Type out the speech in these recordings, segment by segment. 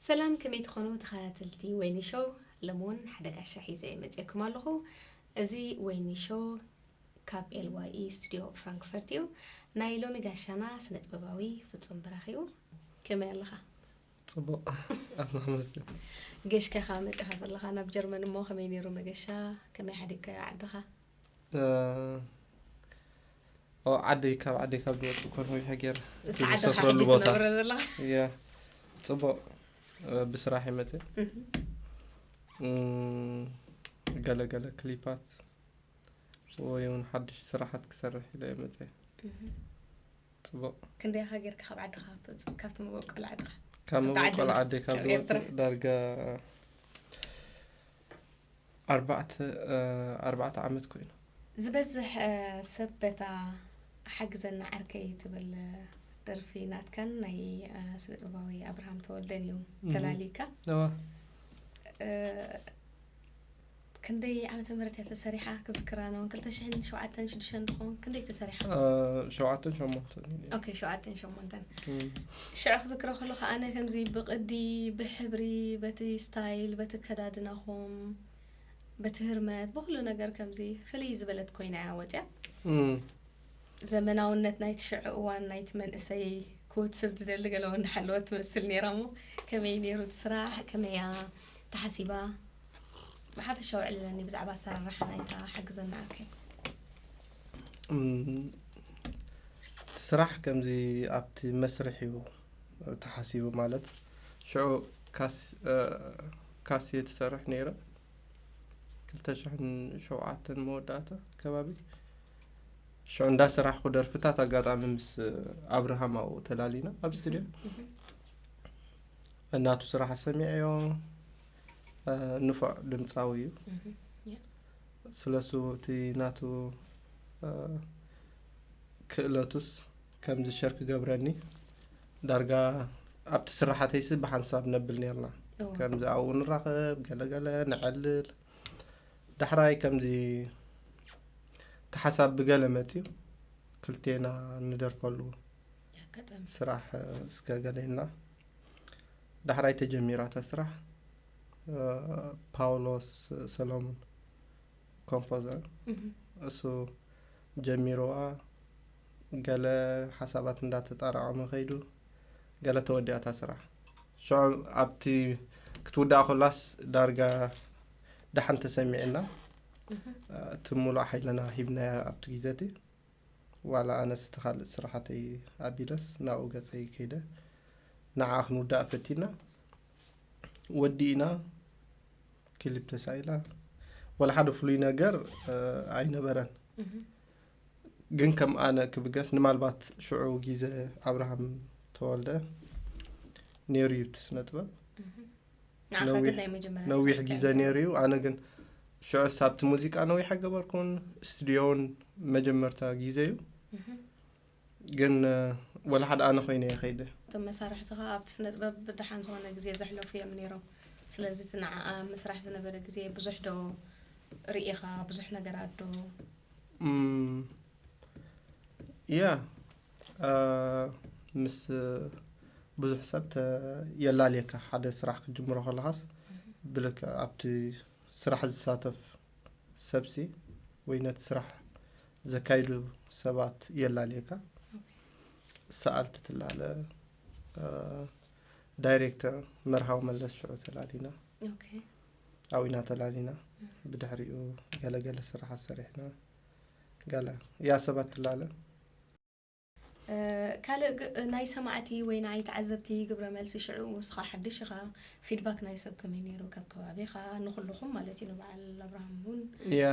ሰላም ከመይ ትኾኑ ተኸታተልቲ ወይኒ ሾው ሎሚ እውን ሓደ ጋሻ ሒዘ መፅኤኩም ኣለኹ እዚ ወይኒ ሾው ካብ ኤልዋኢ ስቱድዮ ፍራንክፈርት እዩ ናይ ሎሚ ጋሻና ስነ ጥበባዊ ፍፁም ብራኽ እዩ ከመይ ኣለኻ ጽቡቅ ኣብ መሕመስ ገሽከኻ መጺኻ ዘለኻ ናብ ጀርመን እሞ ከመይ ነይሩ መገሻ ከመይ ሓዲግካዮ ዓድኻ ዓደይ ካብ ዓደይ ካብ ዝወፅ እኮ ነዊሕ ገይረ እቲ ዝሰፍረሉ ቦታ እያ ፅቡቅ ብስራሕ ይመፅ ገለገለ ክሊፓት ወይ እውን ሓድሽ ስራሓት ክሰርሕ ኢለ ይመፅ ጽቡቅ። ክንደይ ኢኻ ጌርካ ካብ ዓድኻ ክትወጽእ ካብቲ መበቆል ዓድኻ? ካብ ካብታ ዓዲ መበቆል ወጽእ- ዓደይ ካብ ካብ ኤርትራ? ዝወጽእ ዳርጋ ኣርባዕተ ኣርባዕተ ዓመት ኮይኑ ዝበዝሕ እ፣ ሰብ በታ ሓግዘና ዓርከይ ትብል እ፣ ደርፊ ናትካን ናይ እ፣ ስነ ጥበባዊ ኣብርሃም ተወልደን እዩ ተላሊካ እዋ እ፣ ክንደይ ዓመተ ምህረት እያ ተሰሪሓ ክዝክራ ነውን ክልተ ሽሕን ሸውዓተን ሽዱሽተን ድኾን ክንደይ ተሰሪሓ ሸውዓተን ሸሞንተን ኦኬ ሸውዓተን ሸሞንተን ሽዑ ክዝክሮ ከለኹ ኣነ ከምዚ ብቅዲ ብሕብሪ በቲ ስታይል በቲ ከዳድናኹም በቲ ህርመት ብኩሉ ነገር ከምዚ ፍልይ ዝበለት ኮይና እያ ወፅያ ዘመናውነት ናይቲ ሽዑ እዋን ናይቲ መንእሰይ ክወትስብ ዝደሊ ገለዎ እንዳሓለወ ትመስል ነይራ እሞ ከመይ ነይሩ እቲ ስራሕ ከመይ እያ ተሓሲባ ብሓፈሻ ውዕልለኒ ብዛዕባ ኣሰራርሓ ናይታ ሓግዘና ኣርከ እቲ ስራሕ ከምዚ ኣብቲ መስርሕ እዩ ተሓሲቡ ማለት ሽዑ ካስ እየ ትሰርሕ ነይረ ክልተ ሽሕን ሸውዓተን መወዳእታ ከባቢ ሽዑ እንዳ ስራሕኩ ደርፍታት ኣጋጣሚ ምስ ኣብርሃም ኣብኡ ተላሊና ኣብ ስትድዮ እናቱ ስራሕ ሰሚዐዮ ንፉዕ ድምጻዊ እዩ ስለሱ እቲ ናቱ ክእለቱስ ከምዚ ሸር ክገብረኒ ዳርጋ ኣብቲ ስራሓተይሲ ብሓንሳብ ነብል ነርና ከምዚ ኣብኡ ንራኸብ ገለገለ ንዐልል ዳሕራይ ከምዚ ተሓሳብ ብገለ መፅዩ ክልቴና ንደርፈሉ ስራሕ እስከ ገሌና ዳሕራይ ተጀሚራ እታ ስራሕ ፓውሎስ ሰሎሙን ኮምፖዘር እሱ ጀሚርዋ ገለ ሓሳባት እንዳተጣራቐመ ከይዱ ገለ ተወዲኣታ ስራሕ ሽዑ ኣብቲ ክትውዳእ ኮላስ ዳርጋ ዳሓን ተሰሚዕና እቲ ሙሉእ ሓይልና ሂብናያ ኣብቲ ግዜ እቲ ዋላ ኣነስ እቲ ካልእ ስራሓተይ ኣቢለስ ናብኡ ገፀይ ከይደ ንዓ ክንውዳእ ፈቲና ወዲእና ክሊፕ ተሳኢላ ወላ ሓደ ፍሉይ ነገር ኣይነበረን ግን ከም ኣነ ክብገስ ንማልባት ሽዑ ግዜ ኣብርሃም ተወልደ ነይሩ እዩ እቲ ስነ ጥበብ ነዊሕ ግዜ ነይሩ እዩ ኣነ ግን ሽዑ ሳብቲ ሙዚቃ ነዊሕ ኣይገበርኩን ስቱድዮን መጀመርታ ግዜ እዩ ግን ወላ ሓደ ኣነ ኮይነ እየ ከይደ እቶም መሳርሕቲ ከዓ ኣብቲ ስነ ጥበብ ብድሓን ዝኾነ ግዜ ዘሕለፉ እዮም ነይሮም ስለዚ እቲ ንዓኣ ምስራሕ ዝነበረ ግዜ ብዙሕ ዶ ርኢኻ ብዙሕ ነገራት ዶ ያ ምስ ብዙሕ ሰብ የላልየካ ሓደ ስራሕ ክትጅምሮ ከለኻስ ብልክ ኣብቲ ስራሕ ዝሳተፍ ሰብሲ ወይ ነቲ ስራሕ ዘካይዱ ሰባት የላልየካ ሰኣልቲ ትላለ ዳይሬክተር መርሃዊ መለስ ሽዑ ተላሊና ኣዊና ተላሊና ብድሕሪኡ ገለገለ ስራሕ ኣሰሪሕና ገለ ያ ሰባት ትላለ ካልእ ናይ ሰማዕቲ ወይ ንዓይ ተዓዘብቲ ግብረ መልሲ ሽዑ ንስኻ ሓድሽ ኢኻ ፊድባክ ናይ ሰብ ከመይ ነይሩ ካብ ከባቢኻ ንኹልኹም ማለት እዩ ንበዓል ኣብርሃም እውን ያ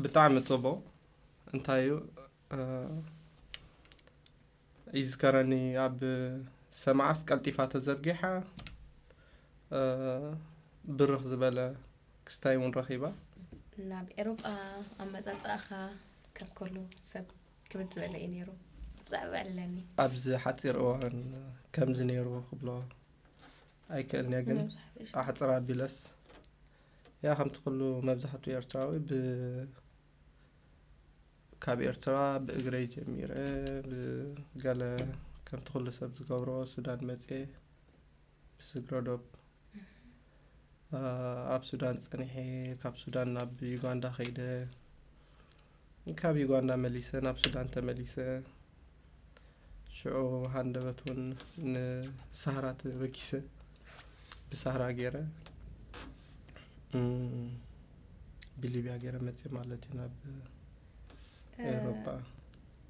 ብጣዕሚ ጽቡቕ እንታይ እዩ ይዝከረኒ ኣብ ሰማዓስ ቀልጢፋ ተዘርጊሓ ብርኽ ዝበለ ክስታይ እውን ረኺባ። ናብ ኤሮጳ ኣመጻጽኣኻ ካብ ከሉ ሰብ ክብድ ዝበለ እዩ ነይሩ ብዛዕባ ዕለኒ ኣብዚ ሓፂር እዋን ከምዚ ነይሩ ክብሎ ኣይክእልንየ ግን ኣሕፅር ኣቢለስ ያ ከምቲ ኩሉ መብዛሕትኡ ኤርትራዊ ብ ካብ ኤርትራ ብእግረይ ጀሚረ ብገለ ከምቲ ኩሉ ሰብ ዝገብሮ ሱዳን መፅየ ብስግረ ዶብ ኣብ ሱዳን ጸኒሐ ካብ ሱዳን ናብ ዩጋንዳ ከይደ ካብ ዩጋንዳ መሊሰ ናብ ሱዳን ተመሊሰ ሽዑ ሃንደበት እውን ንሳህራ ተበኪሰ ብሳህራ ገይረ ብሊብያ ገይረ መፅእ ማለት እዩ ናብ ኤሮፓ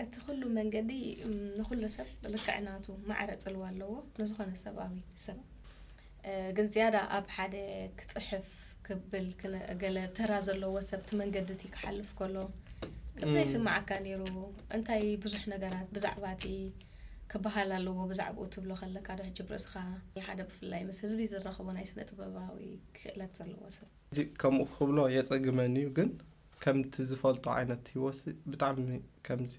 እቲ ኩሉ መንገዲ ንኹሉ ሰብ ብልክዕ ናቱ ማዕረ ጽልዋ ኣለዎ ንዝኾነ ሰብኣዊ ሰብ ግን ዝያዳ ኣብ ሓደ ክጽሕፍ ክብል ገለ ተራ ዘለዎ ሰብ እቲ መንገዲ እቲ ክሓልፍ ከሎ ከምዘይ ስማዓካ ነይሩ እንታይ ብዙሕ ነገራት ብዛዕባ እቲ ክበሃል ኣለዎ ብዛዕባኡ ትብሎ ከለካ ዶ ሕጂ ብርእስኻ ሓደ ብፍላይ ምስ ህዝቢ ዝራኸቦ ናይ ስነ ጥበባዊ ክእለት ዘለዎ ሰብ ከምኡ ክብሎ የጸግመኒ እዩ ግን ከምቲ ዝፈልጦ ዓይነት ህይወት ብጣዕሚ ከምዚ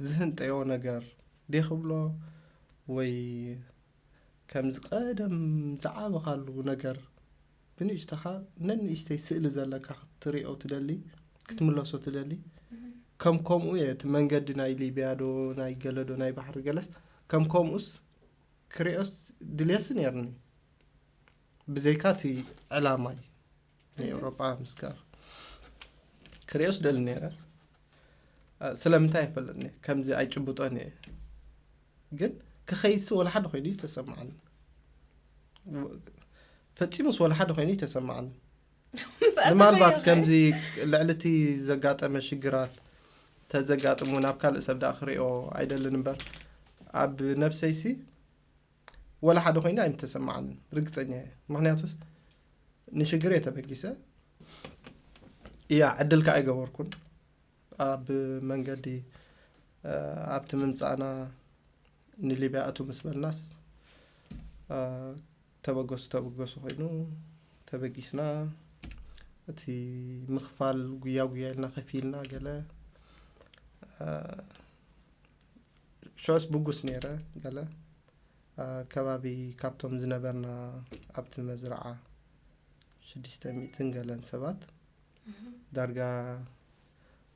ዝህንጠዮ ነገር ዴ ክብሎ ወይ ከምዚ ቀደም ዝዓበኻሉ ነገር ብንእሽተኻ ነንእሽተይ ስእሊ ዘለካ ክትሪኦ ትደሊ ክትምለሶ ትደሊ ከም ከምኡ እየ እቲ መንገዲ ናይ ሊብያ ዶ ናይ ገለ ዶ ናይ ባሕሪ ገለስ ከም ከምኡስ ክሪኦስ ድልየሲ ነይርኒ ብዘይካ እቲ ዕላማይ ናይ ኤውሮጳ ምስጋር ክሪኦስ ደሊ ነረ ስለምንታይ ኣይፈለጥኒ ከምዚ ኣይጭብጦን እየ ግን ክኸይሲ ወላ ሓደ ኮይኑ እዩ ዝተሰማዓኒ ፈፂሙስ ወላ ሓደ ኮይኑ እዩ ተሰማዓኒ ምናልባት ከምዚ ልዕሊ እቲ ዘጋጠመ ሽግራት ተዘጋጥሙ ናብ ካልእ ሰብ ዳኣ ክሪኦ ኣይደልን እምበር ኣብ ነፍሰይሲ ወላ ሓደ ኮይኑ ኣይምተሰማዓንን ርግፀኛ እየ ምክንያቱስ ንሽግር እየ ተበጊሰ እያ ዕድል ከዓ ኣይገበርኩን ኣብ መንገዲ አ፣ ኣብቲ ምምፃእና ንሊብያ እቱ ምስ በልናስ አ፣ ተበገሱ ተበገሱ ኮይኑ ተበጊስና እቲ ምክፋል ጉያ ጉያ ኢልና ከፊልና ገለ አ፣ ሸዋስ ብጉስ ነይረ ገለ ከባቢ ካብቶም ዝነበርና ኣብቲ መዝረዓ ሽዱሽተ ሚእትን ገለን ሰባት ዳርጋ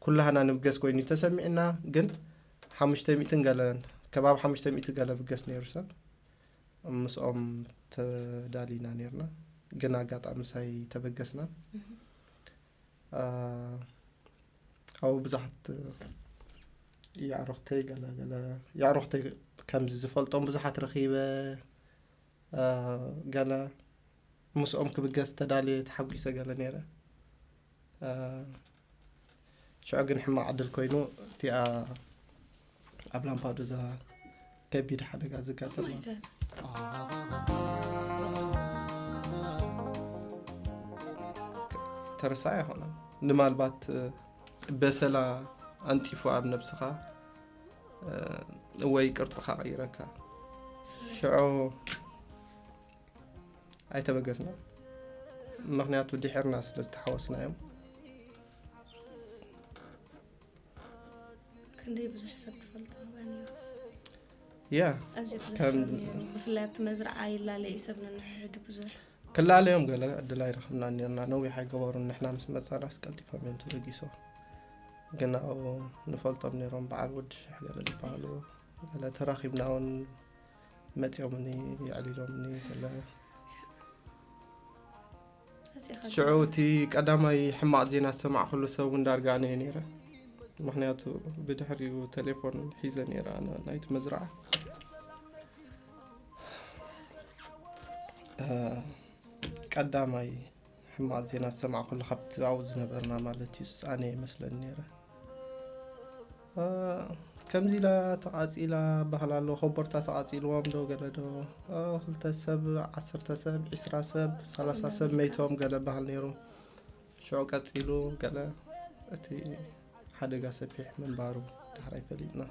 ኩላህና ንብገስ ኮይኑ ተሰሚዕና ግን ሓሙሽተ ሚእትን ገለን ከባቢ ሓሙሽተ ሚእቲ ገለ ብገስ ነይሩ ሰብ ምስኦም ተዳሊና ነርና ግን ኣጋጣሚ ሳይ ተበገስና ኣብኡ ብዙሓት የዕሩኽተይ ገለ ገለ የዕሩኽተይ ከምዚ ዝፈልጦም ብዙሓት ረኺበ ገለ ምስኦም ክብገስ ተዳልየ ተሓጒሰ ገለ ነይረ ሽዑ ግን ሕማቕ ዕድል ኮይኑ እቲኣ ኣብ ላምፓዱዛ ከቢድ ሓደጋ ዘጋጠመ ተረሳ ኣይኮነ ንማልባት በሰላ ኣንጢፉ ኣብ ነብስኻ ወይ ቅርፅኻ ቀይረካ ሽዑ ኣይተበገስና ምክንያቱ ድሕርና ስለ ዝተሓወስና እዮም ክንደይ ብዙሕ ሰብ ትፈልጦ ያ ኣዝዩ ብዙሕ ሰብ ነይሩ ብፍላይ ኣብቲ መዝረዓ ይላለ እዩ ሰብ ንንሕሕዱ ብዙሕ ክላለዮም ገለ ዕድል ኣይረኽብና ነርና ነዊሕ ኣይገበሩን ንሕና ምስ መፃና ስቀልጢፎም እዮም ተበጊሶ ግን ኣብኡ ንፈልጦም ነይሮም በዓል ወዲ ሽሕ ገለ ዝበሃሉ ገለ ተራኺብና እውን መፂኦምኒ የዕሊሎምኒ ገለ ሽዑ እቲ ቀዳማይ ሕማቕ ዜና ዝሰማዕኩሉ ሰብ እውን ዳርጋ ኣነ እየ ነይረ ምክንያቱ ብድሕሪኡ ቴሌፎን ሒዘ ነይረ ኣነ ናይቲ መዝረዓ ቀዳማይ ሕማቕ ዜና ዝሰማዕኩሉ ካብቲ ኣብኡ ዝነበርና ማለት እዩ ኣነ እየ መስለኒ ነይረ ከምዚ ኢላ ተቓጺላ በሃል ኣሎ ኮቦርታ ተቓጺልዎም ዶ ገለ ዶ ክልተ ሰብ ዓሰርተ ሰብ ዒስራ ሰብ ሰላሳ ሰብ መይቶም ገለ በሃል ነይሩ ሽዑ ቀጺሉ ገለ እቲ ሓደጋ ሰፊሕ ምንባሩ ዳሕራይ ፈሊጥና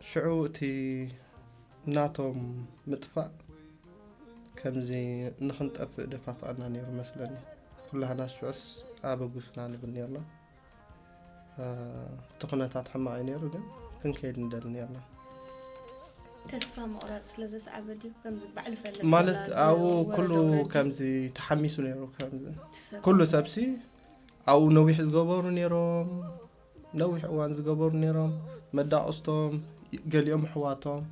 ሽዑ እቲ ናቶም ምጥፋእ ከምዚ ንክንጠፍእ ደፋፍኣና ነይሩ መስለኒ ኩላህና ሽዑስ ኣበጉስና ንብል ነርና እቲ ኩነታት ሕማቕ እዩ ነይሩ ግን ክንከይድ ንደሊ ነርና ተስፋ ምቑራፅ ስለ ዘስዓበ ድዩ ከምዚ ባዕሉ ፈለጥ ማለት ኣብኡ ኩሉ ከምዚ ተሓሚሱ ነይሩ ከምዚ ኩሉ ሰብሲ ኣብኡ ነዊሕ ዝገበሩ ነይሮም ነዊሕ እዋን ዝገበሩ ነይሮም መዳቕስቶም ገሊኦም ኣሕዋቶም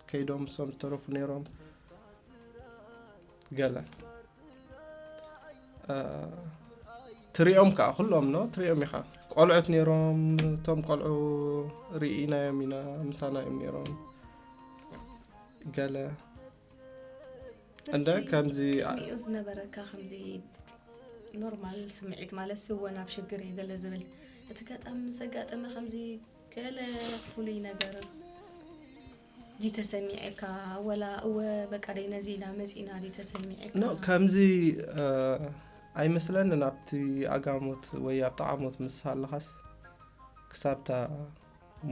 ከይዶም እሶም ዝተረፉ ነይሮም ገለ ትሪኦም ከዓ ኩሎም ኖ ትሪኦም ኢኻ ቆልዑት ነይሮም እቶም ቆልዑ ርኢናዮም ኢና ምሳና እዮም ነይሮም ገለ እንደ ከምዚ ሪኦ ዝነበረካ ከምዚ ኖርማል ስምዒት ማለት ስወ ናብ ሽግር እዩ ገለ ዝብል እቲ ገጣሚ ምስ ኣጋጠመ ከምዚ ገለ ፍሉይ ነገር ድዩ ተሰሚዔካ ወላ እወ በቃ ደይ ነዚ ኢላ መጺና ድዩ ተሰሚዔካ ኖ ከምዚ እ፣ ኣይመስለንን ኣብቲ ኣጋሞት ወይ ኣብ ጠዓሞት ምስ ሃለኻስ ክሳብታ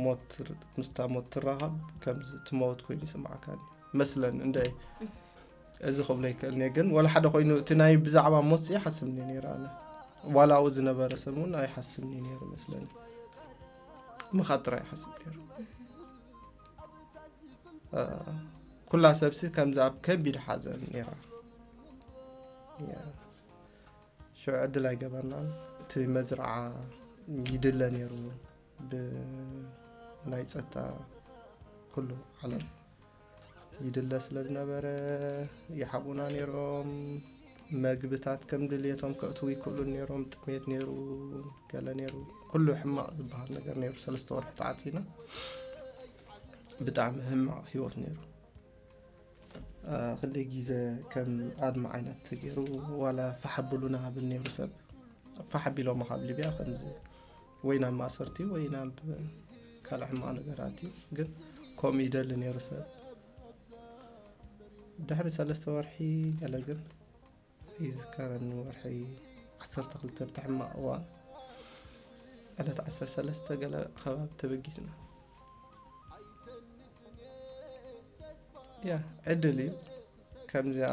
ሞት ምስታ ሞት ትራኸብ ከምዚ ትመውት ኮይኑ ይስምዓካ መስለን እንደ እዚ ክብሎ ይክእል እየ ግን ወላ ሓደ ኮይኑ እቲ ናይ ብዛዕባ ሞት ሲ ይሓስብኒ ነይረ ኣነ ዋላ ኣብኡ ዝነበረ ሰብ እውን ኣይሓስብኒ ነይሩ መስለኒ ምኻድ ጥራይ ይሓስብ ገይሩ ኩላ ሰብሲ ከምዚ ኣብ ከቢድ ሓዘን ነራ ሽዑ ዕድል ኣይገበርናን እቲ መዝርዓ ይድለ ነይሩ ብናይ ፀጥታ ኩሉ ዓለም ይድለ ስለ ዝነበረ ይሓቡና ነይሮም መግብታት ከም ድልየቶም ከእትዉ ይክእሉ ነይሮም ጥሜት ነይሩ ገለ ነይሩ ኩሉ ሕማቕ ዝበሃል ነገር ነይሩ ሰለስተ ወርሒ ተዓፂና ብጣዕሚ ሕማቕ ሂወት ነይሩ ክልተ ግዜ ከም ኣድሚ ዓይነት ተገይሩ ዋላ ፋሕ ኣብሉና ብል ነይሩ ሰብ ፋሕ ኣቢሎማ ካብ ሊብያ ከምዚ ወይ ናብ ማእሰርቲ እዩ ወይ ናብ ካልእ ሕማቕ ነገራት እዩ ግን ከምኡ ይደሊ ነይሩ ሰብ ድሕሪ ሰለስተ ወርሒ ገለ ግን ይዝከረኒ ወርሒ ዓሰርተ ክልተ ብቲ ሕማቕ እዋን ዕለት ዓሰርተ ሰለስተ ገለ ከባቢ ተበጊስና ያ ዕድል እዩ ከምዚኣ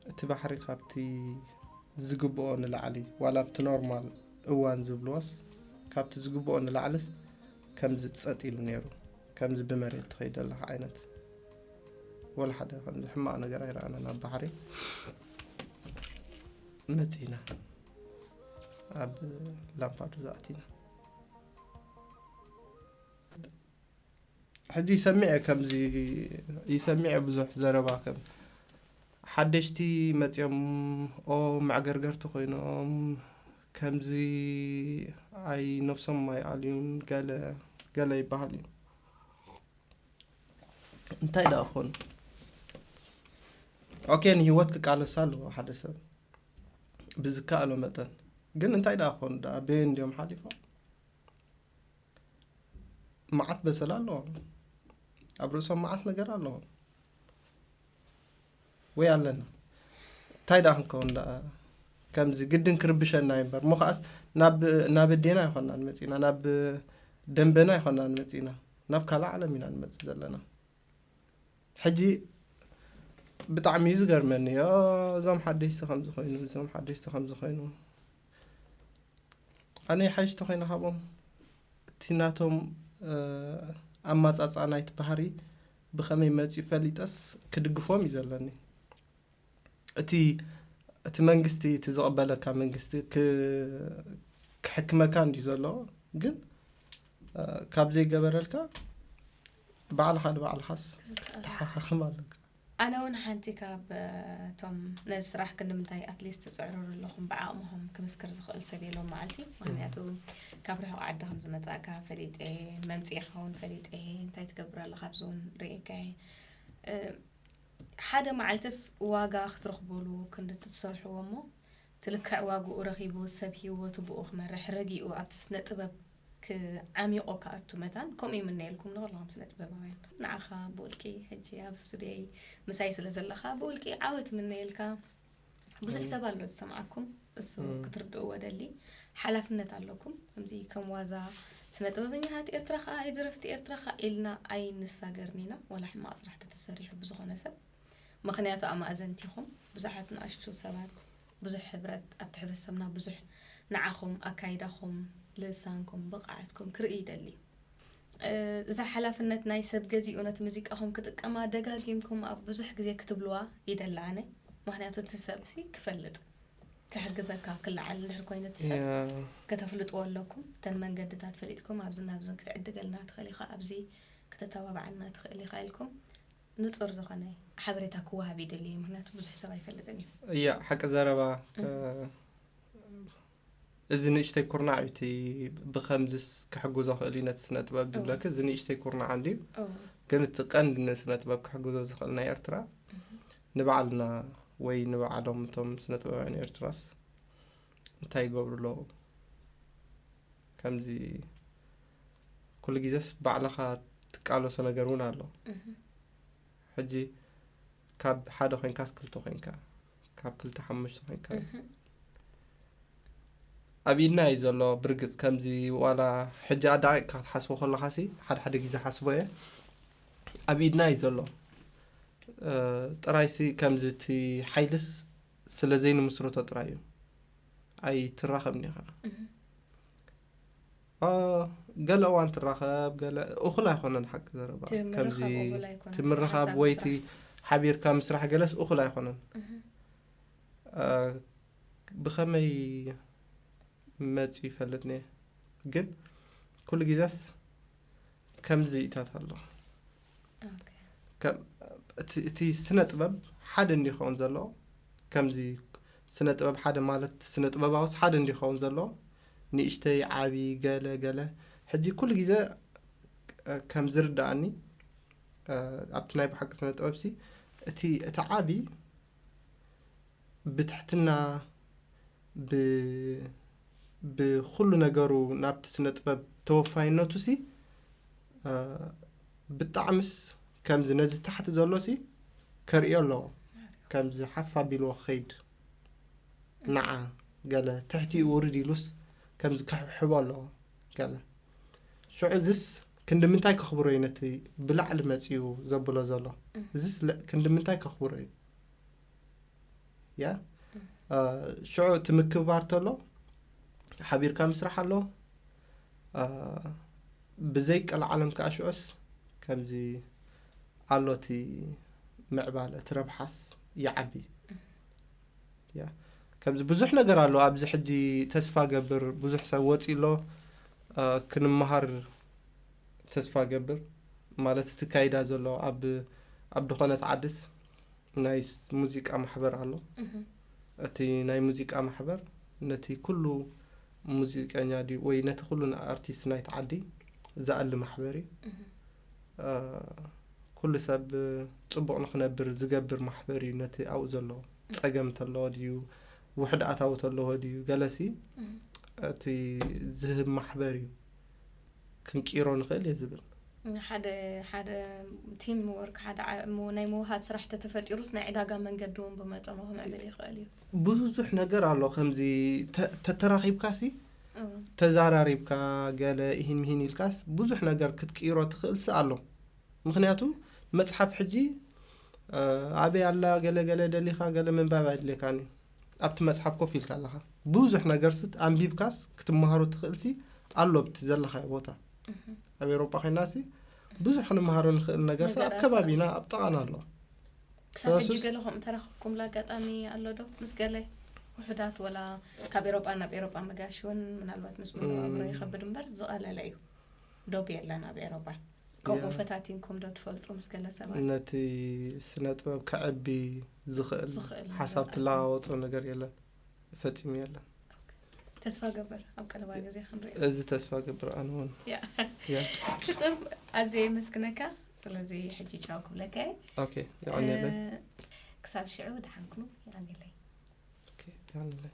እቲ ባሕሪ ካብቲ ዝግብኦ ንላዕሊ ዋላ ኣብቲ ኖርማል እዋን ዝብልዎስ ካብቲ ዝግብኦ ንላዕልስ ከምዚ ጸጥ ኢሉ ነይሩ ከምዚ ብመሬት ትኸይደለኻ ዓይነት ወላ ሓደ ከምዚ ሕማቕ ነገር ኣይረኣናን ኣብ ባሕሪ መጺና ኣብ ላምፓዱዛ ኣቲና ሕጂ ይሰምዕ እየ ከምዚ ይሰምዕ እየ ብዙሕ ዘረባ ከም ሓደሽቲ መፅኦም ኦ መዕገርገርቲ ኮይኖም ከምዚ ኣይ ነብሶም ኣይኣልዩን ገለ ገለ ይበሃል እዩ እንታይ ደኣ ኮኑ ኦኬ ንሂወት ክቃለሳ ኣለዎ ሓደ ሰብ ብዝከኣሎ መጠን ግን እንታይ ደኣ ኮኑ ደኣ በየን እንዲዮም ሓሊፎም መዓት በሰላ ኣለዎም ኣብ ርእሶም መዓት ነገር ኣለዎም ወይ ኣለና እንታይ ደኣ ክንከውን ደኣ ከምዚ ግድን ክርብሸና እዩ እምበር እሞ ከዓስ ናብ ኣዴና ይኮና ንመፅእና ናብ ደንበና ይኮና ንመፅእና ናብ ካልእ ዓለም ኢና ንመፅእ ዘለና ሕጂ ብጣዕሚ እዩ ዝገርመኒ እዮ እዞም ሓደሽቲ ከምዚ ኮይኑ እዞም ሓደሽቲ ከምዚ ኮይኑ ኣነ ይሓይሽ ተኮይነ ካብኦም እቲ ናቶም ኣማፃፅኣ ናይቲ ባህሪ ብከመይ መፅኡ ፈሊጠስ ክድግፎም እዩ ዘለኒ እቲ እቲ መንግስቲ እቲ ዝቕበለካ መንግስቲ ክሕክመካ እንዲ ዘሎ ግን ካብ ዘይገበረልካ ባዕልኻ ንባዕልኻስ ክትተሓኻኽም ኣለካ ኣነ ውን ሓንቲ ካብ ቶም ነዚ ስራሕ ክንድምንታይ ኣትሊስት ትጽዕርሩ ኣለኹም ብዓቕምኹም ክምስክር ዝኽእል ሰብ የለውን መዓልቲ ምክንያቱ ካብ ርሑቕ ዓዲ ከም ዝመጻእካ ፈሊጠ መምጽኢኻ ውን ፈሊጠ እንታይ ትገብር ኣለኻ ኣብዚ ውን ርእየካ ሓደ መዓልትስ ዋጋ ክትረኽበሉ ክንዲ ትሰርሕዎ እሞ ትልክዕ ዋግኡ ረኺቡ ሰብ ሂወቱ ብኡ ክመርሕ ረጊኡ ኣብቲ ስነ ጥበብ ክዓሚቆ ክኣቱ መታን ከምኡ ይምነየልኩም ንኩልኩም ስነ ጥበባውያን ንዓካ ብውልቂ ሕጂ ኣብ ስቱድዮይ ምሳይ ስለ ዘለካ ብውልቂ ዓወት ይምነየልካ ብዙሕ ሰብ ኣሎ ዝሰምዓኩም እሱ ክትርድእዎ ደሊ ሓላፍነት ኣለኩም ከምዚ ከም ዋዛ ስነ ጥበበኛታት ኤርትራ ከዓ ኣይ ደረፍቲ ኤርትራ ከዓ ኢልና ኣይንሳገርን ኢና ወላ ሕማቅ ስራሕ ተተሰሪሑ ብዝኮነ ሰብ ምክንያቱ ኣማእዘንቲ ኢኩም ብዙሓት ንኣሽቱ ሰባት ብዙሕ ሕብረት ኣብቲ ሕብረተሰብና ብዙሕ ንዓኹም ኣካይዳኹም ልሳንኩም ብቕዓትኩም ክርኢ ይደሊ እዛ ሓላፍነት ናይ ሰብ ገዚኡ ነቲ ሙዚቃኹም ክጥቀማ ደጋጊምኩም ኣብ ብዙሕ ግዜ ክትብልዋ ይደሊ ኣነ ምክንያቱ እቲ ሰብሲ ክፈልጥ ክሕግዘካ ክለዓል እንድሕር ኮይኑ እቲ ሰብ ከተፍልጥዎ ኣለኩም እተን መንገድታት ፈሊጥኩም ኣብዚ ናብዝን ክትዕድገልና ትኽእል ኢኻ ኣብዚ ከተተባብዓና ትኽእል ኢኻ ኢልኩም ንጹር ዝኾነ ሓበሬታ ክወሃብ ይደሊ እየ ምክንያቱ ብዙሕ ሰብ ኣይፈልጥን እዩ እያ ሓቂ ዘረባ እዚ ንእሽተይ ኩርናዕ እዩ እቲ ብከምዚስ ክሕግዞ ክእል እዩ ነቲ ስነ ጥበብ ዝብለክ እዚ ንእሽተይ ኩርናዕ እንድዩ ግን እቲ ቀንዲ ንስነ ጥበብ ክሕግዞ ዝኽእል ናይ ኤርትራ ንባዕልና ወይ ንባዕሎም እቶም ስነ ጥበባውያን ኤርትራስ እንታይ ይገብሩ ኣለዉ ከምዚ ኩሉ ግዜስ ባዕልኻ ትቃለሶ ነገር እውን ኣሎ ሕጂ ካብ ሓደ ኮንካስ ክልተ ኮንካ ካብ ክልተ ሓሙሽተ ኮንካ ኣብ ኢድና እዩ ዘሎ ብርግፅ ከምዚ ዋላ ሕጂ ኣዳቂቅካ ክትሓስቦ ከለካ ሲ ሓደ ሓደ ግዜ ሓስቦ እየ ኣብ ኢድና እዩ ዘሎ ጥራይሲ ከምዚ እቲ ሓይልስ ስለ ዘይንምስረቶ ጥራይ እዩ ኣይትራኸብኒ ኢኻ ገለ እዋን ትራኸብ ገለ እኹል ኣይኮነን ሓቂ ዘረባ ከምዚ ትምርኻብ ወይቲ ሓቢርካ ምስራሕ ገለስ እኹል ኣይኮነን ብኸመይ መፂ ይፈልጥ ነ ግን ኩሉ ግዜስ ከምዚ እታት ኣሎ እቲ ስነ ጥበብ ሓደ እንዲ ይኸውን ዘሎ ከምዚ ስነ ጥበብ ሓደ ማለት ስነ ጥበባውስ ሓደ እንዲ ይኸውን ዘሎ ንእሽተይ ዓቢ ገለ ገለ ሕጂ ኩሉ ግዜ ከም ዝርዳእኒ ኣብቲ ናይ ብሓቂ ስነ ጥበብ ሲ እቲ እቲ ዓቢ ብትሕትና ብ ብኹሉ ነገሩ ናብቲ ስነ ጥበብ ተወፋይነቱሲ ብጣዕምስ ከምዚ ነዚ ታሕቲ ዘሎሲ ከርእዮ ኣለዎ ከምዚ ሓፍ ኣቢልዎ ክኸይድ ናዓ ገለ ትሕቲኡ ውርድ ኢሉስ ከምዚ ክሕብሕቦ ኣለዎ ገለ ሽዑ እዚስ ክንዲ ምንታይ ከኽብሮ እዩ ነቲ ብላዕሊ መጺኡ ዘብሎ ዘሎ እዚስ ክንዲ ምንታይ ከኽብሮ እዩ ያ ሽዑ እቲ ምክብባር ተሎ ሓቢርካ ምስራሕ ኣሎ ብዘይ ቀልዓለም ከዓ ሽዑስ ከምዚ ኣሎ እቲ ምዕባለ እቲ ረብሓስ ይዓቢ ያ ከምዚ ብዙሕ ነገር ኣሎ ኣብዚ ሕጂ ተስፋ ገብር ብዙሕ ሰብ ወፂ ኣሎ ክንመሃር ተስፋ ገብር ማለት እቲ ካይዳ ዘሎ ኣብ ኣብ ድኾነት ዓድስ ናይ ሙዚቃ ማሕበር ኣሎ እቲ ናይ ሙዚቃ ማሕበር ነቲ ኩሉ ሙዚቀኛ ድዩ ወይ ነቲ ኩሉ ኣርቲስት ናይቲ ዓዲ ዝኣሊ ማሕበር እዩ ኩሉ ሰብ ፅቡቅ ንክነብር ዝገብር ማሕበር እዩ ነቲ ኣብኡ ዘሎ ፀገም ተለዎ ድዩ ውሕድ ኣታዊ ተለዎ ድዩ ገለሲ እቲ ዝህብ ማሕበር እዩ ክንቂሮ ንክእል እየ ዝብል። ሓደ ሓደ ቲም ወርክ ሓደ ናይ ምውሃድ ስራሕ ተተፈጢሩስ ናይ ዕዳጋ መንገዲ እውን ብመጠኑ ክምዕብል ይኽእል እዩ። ብዙሕ ነገር ኣሎ ከምዚ ተተራኺብካ ሲ ተዛራሪብካ ገለ ይህን ምሂን ኢልካስ ብዙሕ ነገር ክትቅይሮ ትኽእልሲ ኣሎ ምክንያቱ መፅሓፍ ሕጂ ኣበይ ኣላ ገለ ገለ ደሊኻ ገለ ምንባብ ኣይድልየካን እዩ ኣብቲ መጽሓፍ ኮፍ ኢልካ ኣለኻ ብዙሕ ነገር ስት ኣንቢብካስ ክትመሃሮ ትኽእልሲ ኣሎ ኣብቲ ዘለኻዮ ቦታ ኣብ ኤሮጳ ኮይናሲ ብዙሕ ክንመሃሮ ንኽእል ነገር ሳ ኣብ ከባቢና ኣብ ጠቓና ኣሎ ክሳብ ሕጂ ገለ ከምኡ ተረኽብኩምላ ኣጋጣሚ ኣሎ ዶ ምስ ገለ ውሑዳት ወላ ካብ ኤሮጳ ናብ ኤሮጳ መጋሽ እውን ምናልባት ምስ ምንባብሮ ይኸብድ እምበር ዝቐለለ እዩ ዶብ የለን ኣብ ኤሮጳ ከምኡ ፈታቲንኩም ዶ ትፈልጡ ምስ ገለ ሰባት ነቲ ስነ ጥበብ ከዕቢ ዝኽእል ዝኽእል ሓሳብ ነገር ትለዋወጦ ነገር የለን ፈፂሙ የለን ተስፋ ገበር ኣብ ቀረባ ግዜ ክንሪኦ እዚ ተስፋ ገብር ኣነ እውን ያ ያ ፍጡር ኣዝየ የመስግነካ ስለዚ ሕጂ ጫው ክብለካ እየ ኦኬ ይቀኒየለይ እ፣ ክሳብ ሽዑ ደሓን ኩኑ ይቀኒለይ ኦኬ ይቀኒየለይ